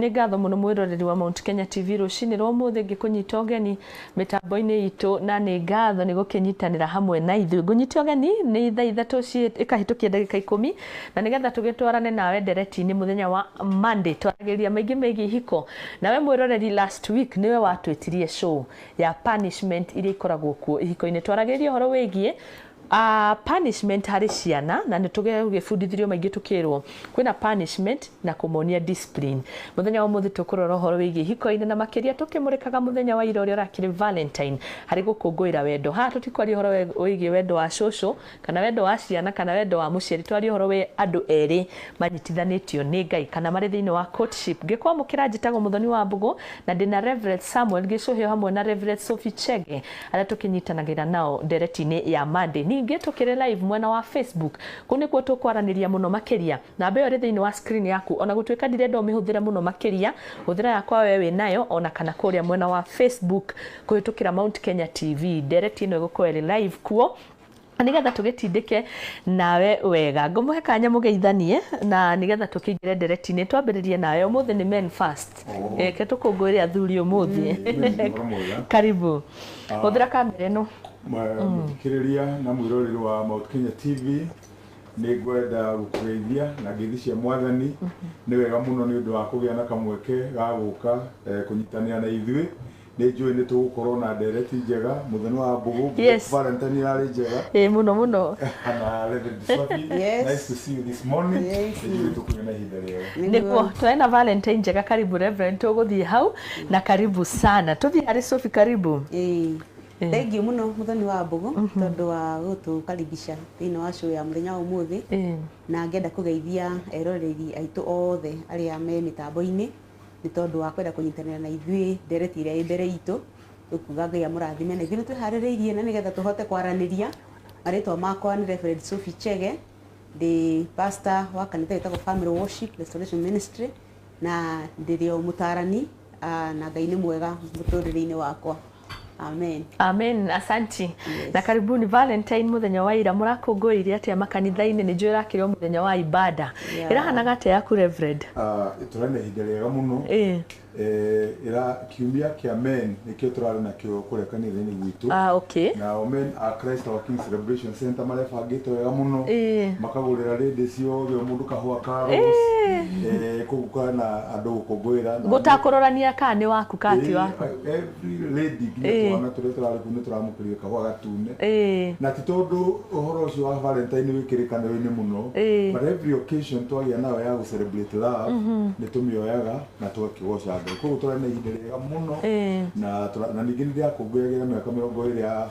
Nĩ ngatho mũno mwĩroreri wa Mount Kenya TV rũcinĩ rwa ũmũthĩ ngĩkũnyita ũgeni mĩtambo-inĩ itũ na nĩ ngatho nĩ gũkĩnyitanĩra hamwe na ithuĩ. Ngũnyite ũgeni nĩ thaa ithatũ ĩkahĩtũkia ndagĩka ikũmi na nĩgetha tũgĩtwarane nawe ndereti-inĩ mũthenya wa Monday twaragĩrĩria maingĩ megiĩ ihiko. Nawe mwĩroreri last week nĩwe watwĩtirie show ya punishment iria ikoragwo kuo ihiko-inĩ. Twaragĩrĩria ũhoro wĩgiĩ Punishment harĩ ciana na nĩ tũgĩbundithirio maingĩ tũkĩrwo kwĩna punishment na kũmonia discipline. Mũthenya wa ũmũthĩ tũkũrora ũhoro wĩgiĩ ihiko-inĩ na makĩria tũkĩmũrĩkaga mũthenya wa ira ũrĩa ũrakĩrĩ Valentine harĩ gũkũngũĩra wendo. Haha tũtikwaria ũhoro wĩgiĩ wendo wa cũcũ kana wendo wa ciana kana wendo wa mũciari, tũraria ũhoro wĩ andũ erĩ manyitithanĩtio nĩ Ngai kana marĩ thĩinĩ wa courtship. Ngĩkwamũkĩra njĩtagwo Mũthoni Wambũgũ na ndĩna Rev. Samuel Gĩcũhĩ o hamwe na Rev. Sophie Chege. arĩa tũkĩnyitanagĩra nao ndereti-inĩ ya Monday. Ningĩ tũkĩrĩ live mwena wa Facebook. Kũu nĩkuo tũkwaranĩria mũno makĩria. Namba ĩyo ĩrĩ thĩinĩ wa screen yaku. O na gũtuĩka ndirenda ũmĩhũthĩre mũno makĩria, hũthĩra yakwa wee wĩ nayo o na kana kũrĩa mwena wa Facebook kũhĩtũkĩra Mount Kenya TV. Ndereti ĩno ĩgũkorwo ĩrĩ live kuo. nĩgetha tũgĩtindĩke nawe wega ngũmũhe kanya mũgeithanie na nĩgetha tũkĩingĩre nderetinĩ twambĩrĩrie nawe ũmũthĩ nĩ men first reke tũkũngũĩre athuri ũmũthĩ Ũhoro mwega. karibu hũthĩra kamera ĩno mũthikĩrĩria na mwĩroreri wa Mount Kenya TV nĩ ngwenda gũkũgeithia na ngeithi cia mwathani nĩ wega mũno nĩ ũndũ wa kũgĩa na kamweke ga gũka eh, kũnyitanĩra na ithuĩ Nĩ njũĩ nĩ tũgũkorwo na ndereti njega mũthenya wa mbũgũ. Yes. Valentine yarĩ njega. Ĩĩ mũno mũno. Kana Reverend Sophie, Yes. nice to see you this morning. Yes. Nĩ njũĩ nĩ tũkũgĩa na ihinda rĩega. niguo twae na valentine njega karibu reverend tũgũthiĩ hau na karibu sana tũthiĩ harĩ sofi karibu Ĩĩ. Thengiũ mũno mũthoni wa mbũgũ tondũ wa gũtũkaribisha thĩinĩ wa show ya mũthenya wa ũmũthĩ Ĩĩ. na ngenda kũgeithia eroreri aitũ othe arĩa me mĩtambo-inĩ nĩ tondũ wa kwenda kũnyitanĩra na ithuĩ ndereti ĩrĩa ĩ mbere itũ, tũkuga Ngai amũrathime na ithuĩ nĩ twĩharĩrĩirie na nĩgetha tũhote kwaranĩria. Marĩtwa makwa nĩ Reverend Sophie Chege, ndĩ pastor wa kanitha wĩtagwo Family Worship Restoration Ministry, na ndĩrĩ o mũtarani, na Ngai nĩ mwega mũtũrĩre-inĩ wakwa. amen amen asanti yes. na karibuni valentine muthenya wa ira murakungũĩire atia makanitha-inĩ nĩ njũĩ ĩrakĩrwo muthenya wa ibada yeah. ĩrahanaga atia yaku reverend uh, ah, tũrarĩ na ihinda rĩega mũno ĩra eh, eh, kiumia kĩa men nĩkĩo tũrarĩ nakĩo kũrĩa kanitha-inĩ gwitũ ah, okay. nao men a christ our king celebration center marebangĩte wega mũno eh. makagũrĩra rĩndĩ ciothe mũndũ kahũa ka rose kũguka na andũ gũkũngũĩra gũtakũrorania kana nĩ waku kati waku every lady nginya Ĩĩ. twana tũrĩa tũrarĩ kuu nĩ tũramũkĩrire kahũa gatune Ĩĩ. na ti tondũ ũhoro ũcio wa valentine wĩ kĩrĩkanĩro-inĩ mũno Ĩĩ. but every occasion twagĩa nayo ya gũcelebrate love nĩ tũmĩoyaga na tũgakĩgoca ngai koguo tũrarĩ na ihinda rĩega mũno Ĩĩ. na tũra- na ningĩ nĩ ndĩrakũngũyagĩra mĩaka mĩrongo ĩrĩ ya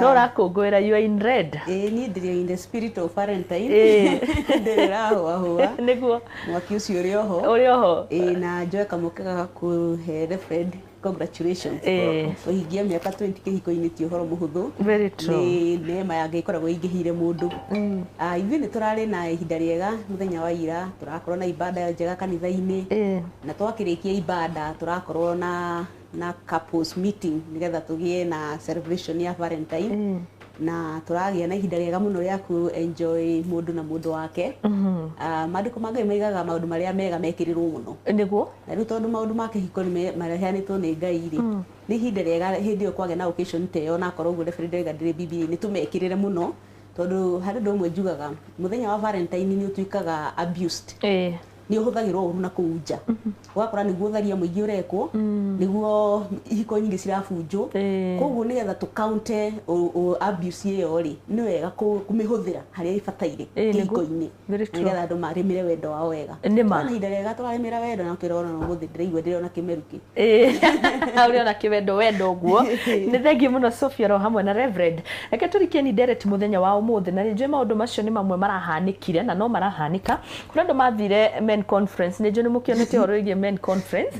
no ũrakũngũĩra you are in red ĩĩ niĩ ndĩrĩ in the spirit of Valentine Ĩĩ. ndĩrĩ rahũahũa nĩguo mwaki ũcio ũrĩ oho ũrĩ oho ĩĩ na njoe kamũke gagakũhe reverend congratulations Ĩĩ. ũhingie mĩaka 20 kĩhiko-inĩ ti ũhoro mũhũthũ Very true. nĩ neema ya ngai ĩkoragwo ĩingĩhĩire mũndũ Ah, ithuĩ nĩ tũrarĩ na ihinda rĩega mũthenya wa ira tũrakorwo na ibada njega kanitha-inĩ Ĩĩ. na twakĩrĩkia ibada tũrakorwo na na couples meeting nigetha tugie na celebration ya Valentine mm. na turagia na ihinda riega muno ria ku enjoy mundu na mundu wake mm -hmm. uh, ah, manduko ma ngai maigaga maundu maria mega mekirirwo muno niguo na riu tondu maundu ma kihiko ni marehanitwo ni ngai ri mm. ni ihinda riega hindi yo kwage na occasion te yo na korwo guo ndebere ndega ndire bibi ni tumekirire muno tondu hari ndu mwe njugaga muthenya wa valentine ni utuikaga abused eh nĩ ũhũthagĩrwo ũru na kũu nja ũgakora nĩguo ũtharia mũingĩ ũrekwo nĩguo ihiko nyingĩ cirabunjwo Ĩĩ. koguo nĩgetha tũkaunte ũ- ũ- abuse ĩyo rĩ nĩ wega kũ- kũmĩhũthĩra harĩa ĩbataire Ĩĩ, nĩguo. kĩhiko-inĩ Very true. nĩgetha andũ marĩmĩre wendo wao wega Nĩ ma. Twarĩ na ihinda rĩega tũrarĩmĩra wendo na kĩrona ũmũthĩ ndĩraigua ndĩrona kĩmeru kĩ ũrĩ ona kĩwendo wendo ũguo nĩ thengiĩ mũno Sophia ro hamwe na Reverend reke tũrikeni ndereti mũthenya wa ũmũthĩ na nĩnjũĩ maũndũ macio nĩ mamwe marahanĩkire na no marahanĩka kũrĩ andũ mathire men conference nĩnjũĩ nĩ mũkĩonete ũhoro wĩgiĩ men conference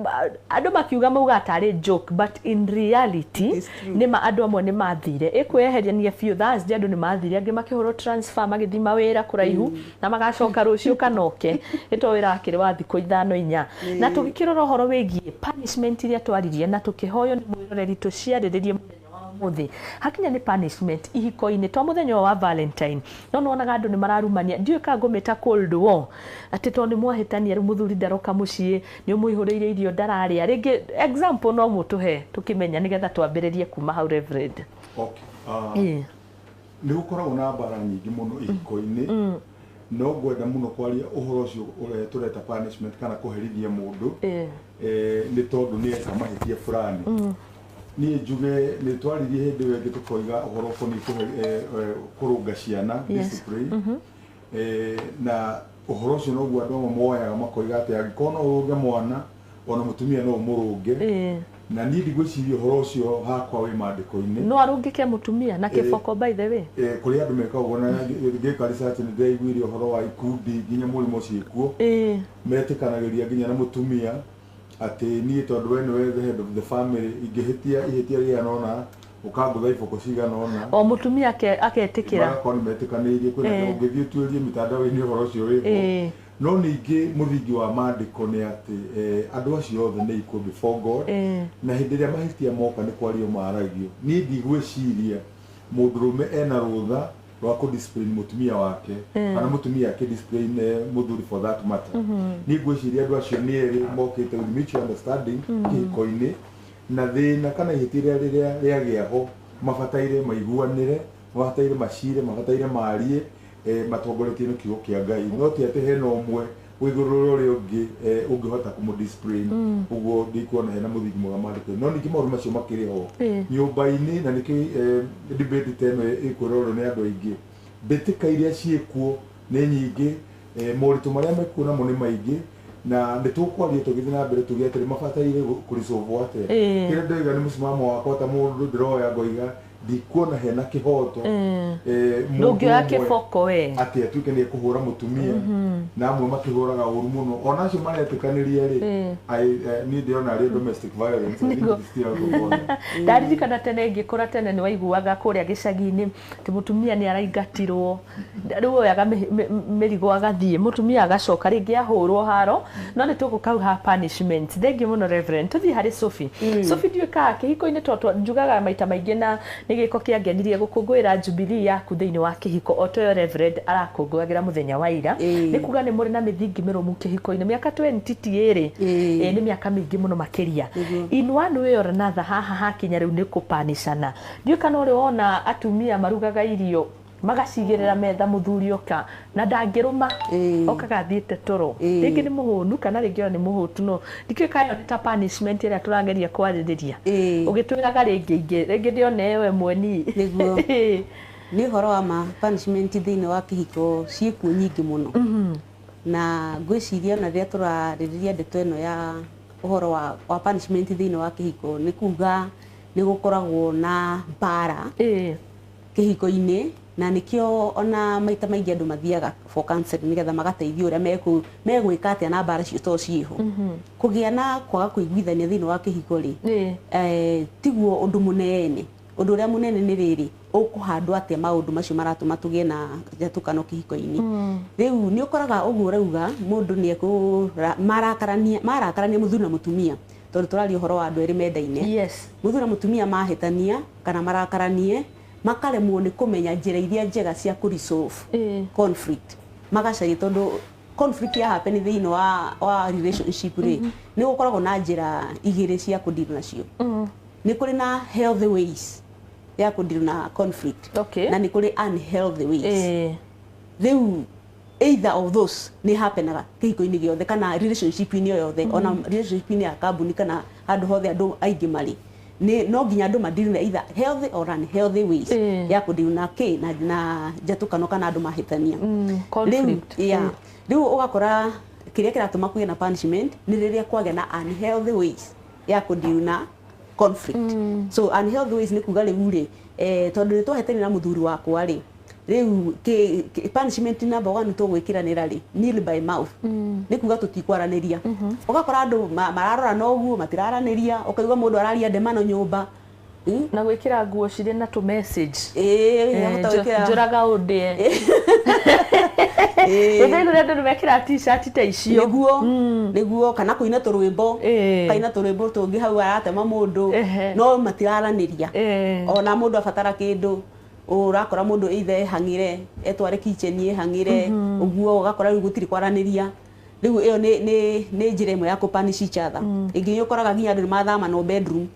Ba- andũ makiuga mauga atarĩ joke but in reality It is true. nĩ ma andũ amwe nĩ mathire ĩkwĩyeherania biũ Thursday andũ nĩ mathire angĩ makĩhũrwo transfer magĩthiĩ mawĩra kũraihu na magacoka rũciũ kanoke nĩ to wĩra wakĩrĩ wa thikũ ithano inya na tũgĩkĩrora ũhoro wĩgiĩ punishment iria twaririe na tũkĩhoywo nĩ mwĩroreri tũciarĩrĩrie mũthenya wa ũmũthĩ hakinya nĩ punishment ihiko-inĩ to mũthenya ũyũ wa valentine no nĩwonaga andũ nĩ mararumania ndiũĩ ka ngũmĩta cold war atĩ to nĩ mwahĩtania rĩu mũthuri ndaroka mũciĩ nĩ ũmũihũrĩire irio ndararĩa rĩngĩ example no mũtũhe tũkĩmenya nĩgetha twambĩrĩrie kuma hau reverend Okay. Ah, Ĩĩ. Nĩ gũkoragwo na mbaara nyingĩ mũno ihiko-inĩ, no ngwenda mũno kwaria ũhoro ũcio ũrĩa tũreta punishment kana kũherithia mũndũ nĩ tondũ nĩ eka mahĩtia fulani. Niĩ njuge nĩ twaririe hĩndĩ ĩyo ĩngĩ tũkoiga ũhoro ũkoniĩ kũrũnga ciana, discipline, na ũhoro ũcio noguo andũ amwe moyaga makoiga atĩ angĩkorwo no ũrũnge mwana, ona mutumia no umurunge Eh. na niĩ ndigwĩciria ũhoro ũcio hakwa wĩ mandĩko-inĩ no arũngĩke mũtumia na kĩboko by the way Eh, kũrĩ andũ meka ũguo na ngĩka research nĩ ndĩraiguire ũhoro wa ikundi nginya mũrimo ciĩkuo Eh. metĩkanagĩria nginya na mũtumia atĩ niĩ tondũ we nĩwe the head of the family ingĩhĩtia ihĩtia rĩigana ũna ũkangũtha iboko cigana ũna o mũtumia ake- agetĩkĩra magakorwo nĩ metĩkanĩirie kwĩna Eh. ũngĩthiĩ ũtuĩrie mĩtandao-inĩ ũhoro ũcio wĩho Eh. No ningĩ mũthingi wa maandĩko nĩ atĩ andũ acio othe nĩ ikuũ before God, na hĩndĩ ĩrĩa mahĩtia moka nĩ kwario maragio. Niĩ ndigwĩciria mũndũrũme ena rũtha rwa kũ discipline mũtumia wake, kana mũtumia akĩ discipline mũthuri for that matter. Niĩ ngwĩciria andũ acio nĩ erĩ mokĩte with mutual understanding kĩhiko-inĩ, na thĩna kana ihĩtia rĩrĩa rĩagĩa ho mabataire maiguanĩre, mabataire macire, mabataire marie, eh, matongoretio nĩ kiugo kĩa ngai no ti atĩ hena ũmwe wĩ igũrũ rĩa ũrĩa ũngĩ eh, ũngĩhota kũmũ discipline ũguo ndikuona hena mũthingi mwega maandĩko no ningĩ maũndũ macio makĩrĩ ho Eh. nyũmba-inĩ na nĩkĩo eh, debate ta ĩno ĩkwĩrorwo nĩ andũ aingĩ mbĩtĩka iria ciĩkuo nĩ nyingĩ eh, moritũ marĩa mekuo namo nĩ maingĩ na nĩ tũkwaria tũgĩthiĩ na mbere tuge atĩrĩ mabataire kũrĩcovwo atĩa Eh. kĩrĩa ndoiga nĩ mũsimamo wakwa ta mũndũ ndĩroya ngoiga ndikuona hena kĩhoto Eh. eh, mũndũ ndũngĩoya ũmwe kĩboko we atĩ atuĩke nĩ ekũhũra mũtumia na amwe makĩhũraga ũru mũno ona acio maretĩkanĩria rĩ Eh. I- eh, niĩ ndĩrona arĩ domestic violence I think Nĩguo. it's still out of order. ndaririkana tene ngĩkũra tene nĩ waiguaga kũrĩa gĩcagi-inĩ atĩ mũtumia nĩ araingatirwo rĩu ũyũ aga mĩ- mĩ- mĩ- mĩrigo agathiĩ mũtumia agacoka rĩngĩ ahũrwo haro no nĩ tũgũkauha punishment thengiũ mũno reverend tũthiĩ harĩ sofi sofi ndiũĩ ka kĩhiko-inĩ to twa- njugaga maita maingĩ na nĩ gĩko kĩangenirie gũkũngũĩra jubilee yaku thĩinĩ wa kĩhiko o toyo reverend arakũngũagĩra mũthenya wa ira Ĩĩ. nĩ kuga nĩ mũrĩ na mĩthingi mĩrũmu kĩhiko-inĩ mĩaka 20 ti ĩrĩ Ĩĩ. Ĩĩ, nĩ mĩaka mĩingĩ mũno makĩria Nĩguo. in one way or another haha hakinya rĩu nĩ kũpanicana ndiũĩ kana ũrĩ wona atumia marugaga irio Magacigĩrĩra metha mũthuri oka na ndangĩrũma okaga athiĩte toro rĩngĩ nĩ mũhũnu kana rĩngĩ ona nĩ mũhũtu no ndikĩũĩ kana ĩyo nĩ ta punishment ĩrĩa tũrageria kwarĩrĩria ũgĩtwĩraga rĩngĩ ingĩ rĩngĩ ndĩona ĩyo ĩmwe niĩ. Nĩguo nĩ ũhoro wa ma punishment thĩinĩ wa kĩhiko ciĩkuo nyingĩ mũno na ngwĩciria ona rĩrĩa tũrarĩrĩria ndeto ĩno ya ũhoro wa punishment thĩinĩ wa kĩhiko nĩ kuga nĩ gũkoragwo na mbara. kĩhiko-inĩ, na nĩkĩo ona maita maingĩ andũ mathiaga for counselling nĩgetha magateithio ũrĩa mekũ megwĩka atĩa na mbara icio to ciĩho. Kũgĩa na kwaga kũiguithania thĩinĩ wa kĩhiko rĩ, eh tiguo ũndũ mũnene. Ũndũ ũrĩa mũnene nĩ rĩrĩ, ũkũhandwo atĩa maũndũ macio maratũma tũgĩe na njatũkano kĩhiko-inĩ. Rĩu nĩ ũkoraga ũguo ũrauga mũndũ nĩ ekũ marakarania marakarania mũthuri na mũtumia, tondũ tũraria ũhoro wa andũ erĩ mendaine. Mũthuri na mũtumia mahĩtania, kana marakaranie, makaremwo nĩ kũmenya njĩra iria njega cia kũ resolve Ĩĩ. conflict magacaria tondũ conflict ya happen thĩinĩ wa, wa relationship rĩ nĩ gũkoragwo na njĩra igĩrĩ cia kũ deal nacio Mm. nĩ kũrĩ na healthy ways ya kũ deal na conflict Okay. na nĩ kũrĩ unhealthy ways Ĩĩ. rĩu Either of those nĩ hapenaga kĩhiko-inĩ gĩothe kana relationship -inĩ o yothe, ona relationship -inĩ ya kambuni kana handũ hothe andũ aingĩ marĩ. Nĩ no nginya andũ ma deal na either healthy or unhealthy ways ya kũ deal na kĩ, na njatũkano kana andũ mahĩtania. Rĩu, yeah. Rĩu ũgakora kĩrĩa kĩratũma kũgĩe na punishment nĩ rĩrĩa kwagĩa na unhealthy ways ya kũ deal na conflict. So unhealthy ways nĩ kuuga rĩu rĩ, tondũ nĩ twahĩtania na mũthuri wakwa rĩ, Rĩu kĩ- kĩ- punishment number one tũgwĩkĩranĩra rĩ nil by mouth nĩ kuga tũtikwaranĩria ũgakora andũ ma- mararora na ũguo matiraranĩria ũkaigua mũndũ araria ndemano nyũmba Mm. na gwĩkĩra nguo cirĩ na tũ message Ĩĩ, Eh, ahota njo- gwĩkĩra- njũraga ũndĩe Ĩĩ. gũthĩi kũrĩa andũ nĩmekĩra t-shirt ta icio nĩguo nĩguo kana kũina tũrwĩmbo Ĩĩ. kaina tũrwĩmbo tũngĩ hau aratema mũndũ Ehe. no matiraranĩria Eh. ona mũndũ abatara kĩndũ ũrakora mũndũ either ehang'ire etware kitchen ehang'ire ũguo ũgakora rĩu gũtirĩ kwaranĩria rĩu ĩyo nĩ nĩ nĩ njĩra ĩmwe ya kũ punish each other ĩngĩ nĩ ũkoraga nginya andũ nĩ mathamanwo bedroom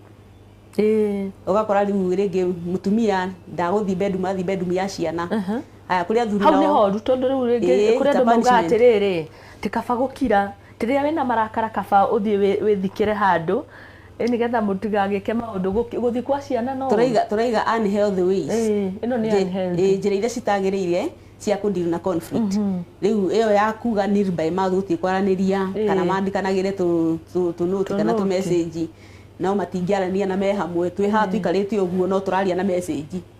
Ĩĩ. ũgakora rĩu rĩngĩ mũtumia ndagũthiĩ bedroom athiĩ bedroom ya ciana haya kũrĩ athuri hau nĩ nao horu tondũ rĩu rĩngĩ Ĩĩ, kũrĩ ta andũ maugaga punishment. atĩrĩrĩ ti kaba gũkira rĩrĩa wĩna marakara kaba ũthiĩ wĩ- wĩthikĩre handũ Ĩ nĩgetha mũtigagĩke maũndũ gũki- gũthiĩ kwa ciana no tũraiga tũraiga unhealthy ways Ĩĩ, ĩno nĩ Njĩ- unhealthy. ĩĩ, njĩra iria citagĩrĩire cia kũndiru na conflict rĩu ĩyo ya kuga nil by mouth gũtirĩ kwaranĩria Ĩĩ. kana mandikanagĩre tũ- tũ- tũnũti kana Tũnũti. tũmecĩnji no matingĩaranĩria na me hamwe twĩ haha tũikarĩte ũguo no tũraria na mecĩnji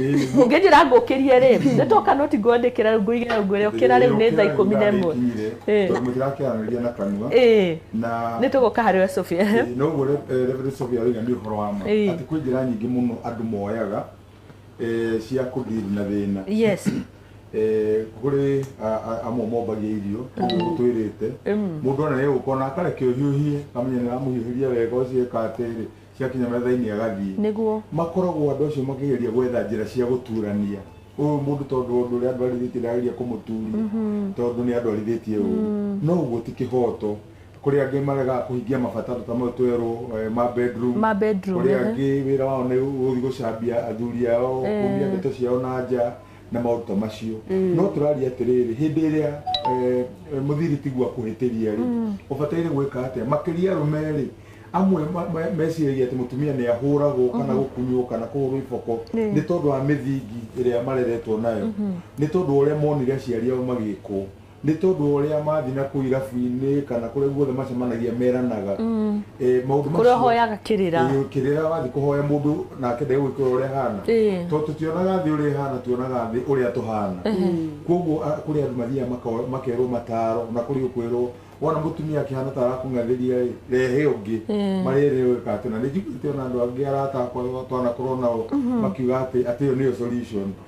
ngĩnjĩra ngũkĩrie rĩ nĩ toka no ti ngwandĩkĩra rĩu ngũigĩra rĩu ngwĩre ũkĩra rĩu nĩ thaa ikũmi na ĩmwe Eh. tondũ mũtirakĩaranĩria na kanua Ĩĩ. na nĩ tũgũka harĩ we Sophia Eh, no ũguo Re- eh, Reverend Sophia Wĩga nĩ ũhoro wa ma Ĩĩ. atĩ kwĩ njĩra nyingĩ mũno andũ moyaga eh, cia kũdiri na thĩna yes Eh, kũrĩ a- a- amwe mombagia irio ũguo gũtwĩrĩte Mm. mũndũ ona nĩ ũkona akarekio hiũhie kamenya nĩ aramũhiũhĩria wega ũcio eka atĩrĩ ciakinya metha-inĩ agathiĩ. Nĩguo. Makoragwo andũ acio makĩgeria gwetha njĩra cia gũturania ũyũ mũndũ tondũ wa ũndũ ũrĩa andwarithĩtie ndagĩria kũmũturia tondũ nĩ andwarithĩtie ũru no ũguo ti kĩhoto kũrĩ angĩ maregaga kũhingia mabataro ta mau twerwo eh, ma bedroom Ma bedroom, kũrĩ ehe. angĩ wĩra wao nĩ gũthiĩ gũcambia athuri ao Eh. kumia ndeto ciao na nja na maũndũ ta macio no tũraria atĩrĩrĩ hĩndĩ ĩrĩa eh, eh, mũthiri tiguo akũhĩtĩria rĩ ũbataire gwĩka atĩa makĩria arũme rĩ amwe ma- ma- meciragia atĩ mũtumia nĩ ahũragwo kana gũkunywo kana kũhũrwo iboko Nĩ. nĩ tondũ wa mĩthingi ĩrĩa mareretwo nayo nĩ tondũ wa ũrĩa monire aciari ao magĩkwo Nĩ tondũ wa ũrĩa mathiĩ na kũu irabu-inĩ kana kũrĩa guothe macemanagia meranaga mm. e, maũndũ macio kũrĩa hoyaga kĩrĩra e, kĩrĩra wathiĩ kũhoya mũndũ nake ndege gwĩkĩra ũrĩa hana e. tondũ tũtionaga thĩ ũrĩa hana tuonaga thĩ ũrĩa tũhana koguo kũrĩ andũ mathiaga makerwo mataro na kũrĩ ũkwĩrwo wona mutumia akihana ta arakung'athiria ri rehe ungi marere uyu kati na nijiguite ona andu angi arata akwa twanakorwo nao makiuga ati ati yo niyo solution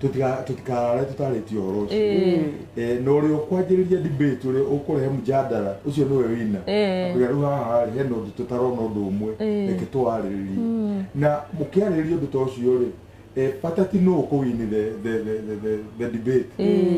tutikarare tutarĩtie ũhoro ũcio Eh, Eh, na ũrĩa ũkwanjĩrĩria debate ũrĩa ũkũrehe mjadala ũcio nĩwe wina Eh. rĩu haha he na ũndũ tũtarona ũndũ ũmwe Eh. reke tũwarĩrĩrie na mũkĩarĩrĩria ũndũ ta ũcio rĩ eh, bata ti nũ ũkũwini the, the, the, the, the, the debate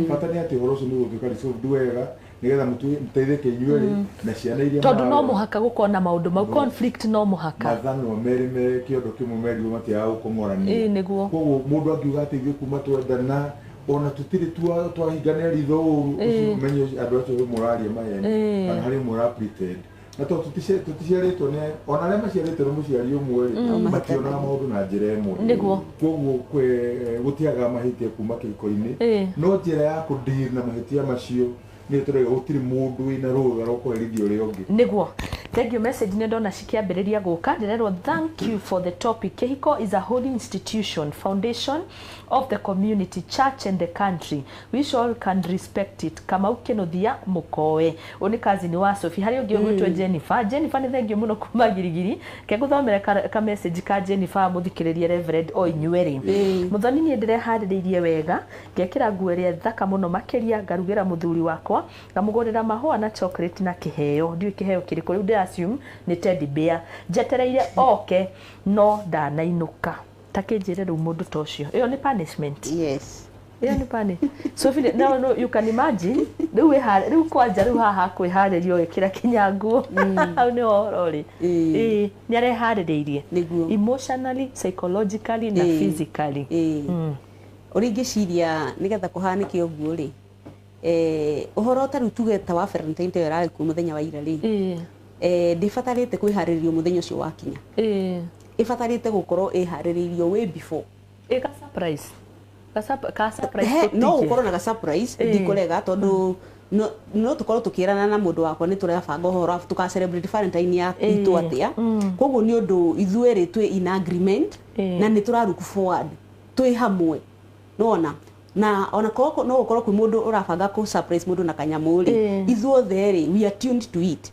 bata nĩ atĩ ũhoro ũcio nĩ ũgũtuĩka resolved wega nigetha mutu- muteithike inyuĩ-rĩ na ciana iria tondå no mwarera. må haka gå korwo na maå ndå mau No. conflict no må haka matha no merĩ meke ũndũ kĩmwe merirwo matiaga Ĩĩ, gũkomorania nĩguo. koguo mũndũ angiuga atĩ ithuĩ kuma twendana ona tũtirĩ twa- twahingana ritho ũru Ĩĩ. ũcio menye andũ acio ũrĩa mũraria maheni Ĩĩ. kana harĩ ũmwe ũra pretend na tondũ tũtici- tũticiarĩtwo nĩ ona arĩa maciarĩtwo nĩ mũciari ũmwe rĩ Mm. mationaga maũndũ na njĩra ĩmwe Nĩguo. koguo kwe- gũtiaga mahĩtia kuma kĩhiko-inĩ Ĩĩ. no njĩra ya kũndir na mahĩtia macio nĩ tũrega gũtirĩ mũndũ wĩna rũtha rwa kũherithia ũrĩa ũngĩ niguo thank you message nä ndona cikĩambĩrĩria gũka ndĩrerwo thank you for the topic kĩhiko is a holy institution foundation of the community church and the country We shall can respect it. Kamau Kĩnũthia mũkoe. Ũyũ nĩ cousin wa Sophie. Harĩ ũngĩ ũgwĩtwo Jennifer. Jennifer nĩ thengiũ mũno kuma girigiri. Ke ngũthomere ka, ka message ka Jennifer mũthikĩrĩrie Reverend o inyuĩ rĩ. Ĩĩ. Mũthoni niĩ ndĩreharĩrĩirie wega, ngekĩra nguo ĩrĩa thaka mũno makĩria, ngarugĩra mũthuri wakwa, ngamũgũrĩra mahũa na chocolate na kĩheo. Ndiũĩ kĩheo kĩrĩkũ, rĩu ndĩ assume nĩ teddy bear. Njetereire oke no ndanainũka. Ta kĩnjĩre rĩu mũndũ ta ũcio. Ĩyo nĩ punishment? Yes. ĩyo nĩ pani so Philip, now no, you can imagine rĩu wĩha- rĩu kwanja rĩu haha kwĩharĩria ũgĩkĩra kinya nguo hau nĩ ũhoro rĩ Ĩĩ. Ĩĩ, nĩ areharĩrĩirie Nĩguo. emotionally psychologically na Ĩĩ. physically Ĩĩ. Mm. ũrĩa ingĩciria nĩgetha kũhanĩke ũguo rĩ eh, ũhoro ta rĩu tuge ta wa Valentine ĩyo ĩrarĩ kuo mũthenya wa ira rĩ Ĩĩ. eh, ndĩbatarĩte kwĩharĩrĩrio mũthenya ũcio wakinya Ĩĩ. ĩbatarĩte gũkorwo ĩharĩrĩirio way before ä ka surprise ka surp- ka surprise He, no tũtikie. gũkorwo na gasurprise Ĩĩ. ndikũrega tondũ no- no tũkorwo tũkĩrana na mũndũ wakwa nĩ tũrebanga ũhoro wa tũka celebrate valentine ya Ĩĩ. itũ atĩa Mm. koguo nĩ ũndũ ithuerĩ twĩ in agreement Ĩĩ. na nĩ tũraruku forward twĩ hamwe nona na ona korwo no gũkorwo kwĩ mũndũ ũrabanga kũ surprise mũndũ na kanyamũ rĩ Ĩĩ. ithuothe rĩ we are tuned to it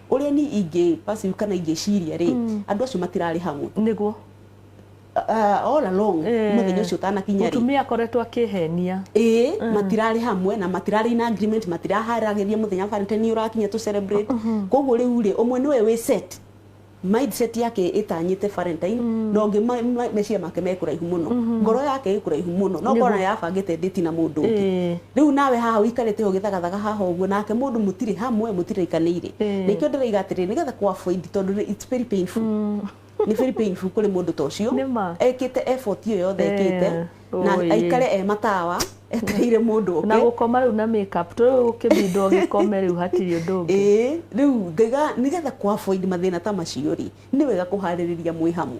ũrĩa ni ingĩ perceive kana ingĩciria rĩ Mm. andũ acio matirarĩ hamwe nĩguo uh, all along Eh. mũthenya ũcio ũtanakinya rĩ mũtumia akoretwo akĩhenia ĩĩ matirarĩ hamwe na matirarĩ na agreement matiraharagĩria mũthenya valentine ũrakinya tũ celebrate koguo rĩu rĩ ũmwe nĩwe wĩ set mindset yake ĩtanyĩte valentine na ũngĩ ma- ma- meciria make me kũraihu mũno ngoro yake ĩ kũraihu mũno no ngona yabangĩte ndĩti na mũndũ ũngĩ Ĩĩ. Rĩu nawe haha ũikarĩte ũũ ũgĩthagathaga haha ũguo nake mũndũ mũtirĩ hamwe, mũtiraikanĩire. Na ikĩo ndĩroiga atĩrĩrĩ, nĩgetha kũ avoid tondũ nĩ it's very painful. Nĩ very painful kũrĩ mũndũ ta ũcio, Nĩ ma. ekĩte effort ĩyo yothe ekĩte, Eh, na ũĩ. aikare e matawa, etereire mũndũ Na oke. gũkoma rĩu na make up. Rĩu ũkĩbindwo ũgĩkome rĩu hatirĩ ũndũ ũngĩ. Ĩĩ, rĩu ngaiga nĩgetha kũ avoid mathĩna ta macio rĩ, nĩ wega kũharĩrĩria mwĩ hamwe.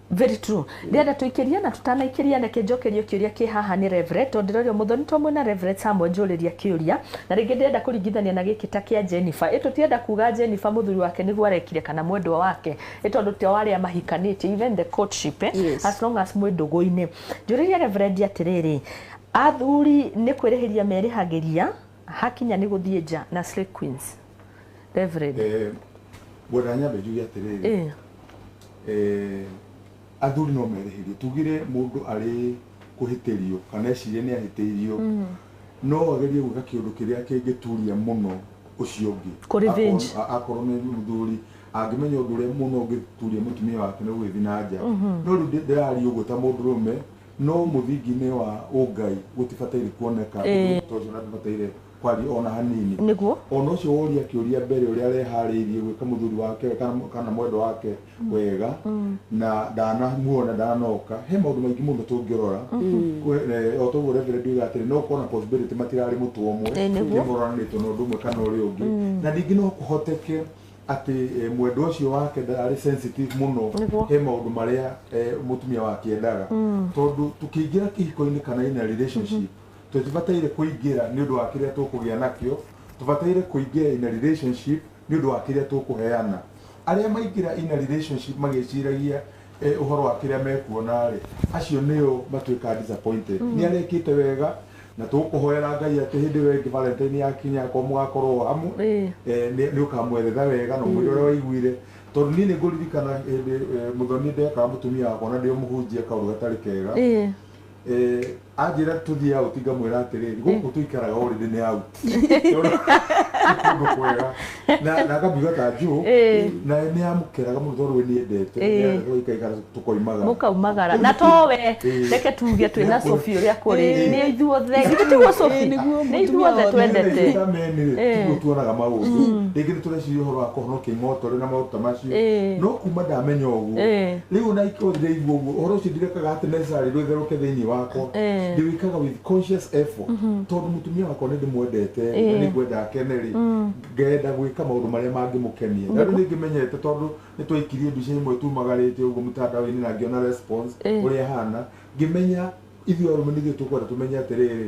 Very true. Ndĩrenda tũikĩrie na tũtanaikĩria reke njokerio kĩũria kĩ haha nĩ Reverend tondũ ndĩrorio mũthoni to mwĩna Reverend Samuel njũrĩria kĩũria na rĩngĩ ndĩrenda kũringithania na gĩkĩ ta kĩa Jennifer. Ĩ tũtirenda kuga Jennifer mũthuri wake nĩguo arekire kana mwendwa wake ĩ tondũ to arĩa mahikanĩtie even the courtship eh, Yes. as long as mwĩ ndũgũ-inĩ. Njũrĩrie Reverend atĩrĩrĩ, athuri nĩ kwĩrĩhĩria merĩhagĩria hakinya nĩ gũthiĩ nja na slay queens. Reverend. Eh, ngwenda nyambe njuge atĩrĩrĩ Eh, Eh, athuri no merĩhĩrie tugire mũndũ arĩ kũhĩtĩrio kana ecirie nĩ ahĩtĩirio mm. no agerie gwĩka kĩũndũ kĩrĩa kĩngĩturia mũno ũcio ũngĩ akorwo nĩ mũthuri angĩmenya ũndũ ũrĩa mũno ũngĩturia mũtumia wake nĩ gũgĩthiĩ na nja mm-hmm. no rĩu ndĩrari ũguo ta mũndũ rũme no mũthingi-inĩ wa ũngai gũtibataire kuoneka ũndũ ũcio na ndibataire Kwarĩ o na hanini. Nĩguo. O na ũcio woria kĩũria mbere ũrĩa areharĩirie gwĩka mũthuri wake kana mwendwa wake wega na ndanamuona, ndanoka. He maũndũ maingĩ mũno tũngĩrora. O ta ũguo Reverend oiga atĩrĩ, no gũkorwo na possibility matirarĩ mũtwe ũmwe. Ĩĩ nĩguo. Nĩ moranĩtwo na ũndũ ũmwe kana ũrĩa ũngĩ. Na ningĩ no kũhoteke atĩ mwendwa ũcio wake ndararĩ sensitive mũno. Nĩguo. He maũndũ marĩa mũtumia wake endaga. Tondũ tũkĩingĩra kĩhiko-inĩ kana in a relationship, Tũtibataire kũingĩra nĩ ũndũ wa kĩrĩa tũkũgĩa nakĩo, tũbataire kũingĩra in a relationship nĩ ũndũ wa kĩrĩa tũkũheana. Arĩa maingĩra in a relationship magĩciragia ũhoro wa kĩrĩa mekuona-rĩ, acio nĩo matuĩkaga disappointed. Nĩ arĩa ekĩte wega, na tũgũkũhoera Ngai atĩ hĩndĩ ĩyo ĩngĩ Valentine yakinya akorwo mũgakorwo hamwe, nĩ ũkamwethetha wega na ũmwĩre ũrĩa waiguire. Tondũ niĩ nĩ ngũririkana hĩndĩ mũthoni ndekaga mũtumia wakwa ona ndĩ o mũhunjia kaũndũ gatarĩ kega. Eh, anjĩra tũthiĩ out ngamwĩra atĩrĩrĩ gũkũ tũikaraga orĩndĩ nĩ out kũndũ kwega na na akambiga ta njũ Eh. na nĩ amũkeraga mũno tondũ we nĩendete Eh. tũikaikara tũkoimaga mũkaumagara na to we Eh. reke tuge twĩ na cobi ũrĩa kũrĩ Eh. nĩ ithuothe githĩ tiguo Eh, cobi nĩguo nĩ ithuothe mũtumia twendete twendete Eh. tiguo tuonaga maũndũ rĩngĩ nĩ tũreciria ũhoro wa kũhonokia ing'otore na maũndũ ta macio Eh. no kuma ndamenya ũguo Eh. Rĩu ona ingĩkorwo ndiraigua ũguo, ũhoro ũcio ndirekaga atĩ necessarily rwĩtherũke thĩinĩ wakwa. Eh. Ndĩwĩkaga with conscious effort. Tondũ mũtumia wakwa nĩ ndĩmwendete rĩ, na Eh. nĩ ngwenda akene rĩ, ngenda gwĩka maũndũ marĩa mangĩmũkenia. Na rĩu nĩ ngĩmenyete tondũ nĩ twaikirie mbica imwe tumagarĩte ũguo mũtandao-inĩ na ngĩona response Eh. ũrĩa ĩhana, ngĩmenya ithuĩ arũme nĩ ithuĩ tũkwenda tũmenye atĩrĩrĩ,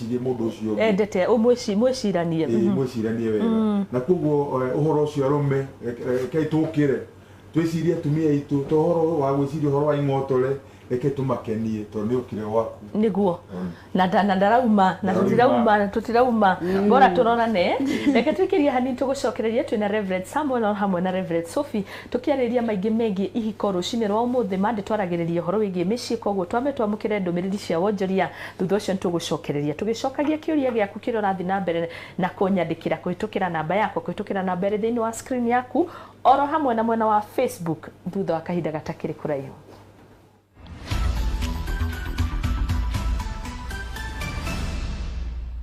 mwĩcirie mũndũ ũcio ũngĩ endete ũmwĩci- mwĩciranie Ĩĩ, Mhm. mwĩciranie wega na koguo eh, ũhoro ũcio arũme eh, eh, rekei tũkĩre twĩcirie atumia aitũ to ũhoro wa gwĩciria ũhoro wa ing'otore reke tũmakenie tondũ nĩ ũkire gwaku niguo na nda- na ndarauma na Ndarauma. tutirauma tutirauma bora turorane reke tuikirie hanini tugucokererie twina reverend samuel o hamwe na reverend sophie tukiarĩria maingĩ megiĩ ihiko rũcinĩ rwa ũmũthĩ mande twaragĩrĩria ũhoro wĩgiĩ mĩciĩ koguo twame twamũkĩre ndũmĩrĩri cia wonjoria Thutha ũcio nĩ tũgũcokereria tũgĩcokagia kĩũria gĩaku kĩrĩa ũrathiĩ na mbere na kũnyandĩkĩra kũhĩtũkĩra namba yakwa, kũhĩtũkĩra namba ĩrĩ thĩinĩ wa screen yaku, oro hamwe na mwena wa Facebook thutha wa kahinda gatakĩrĩ kũraihu.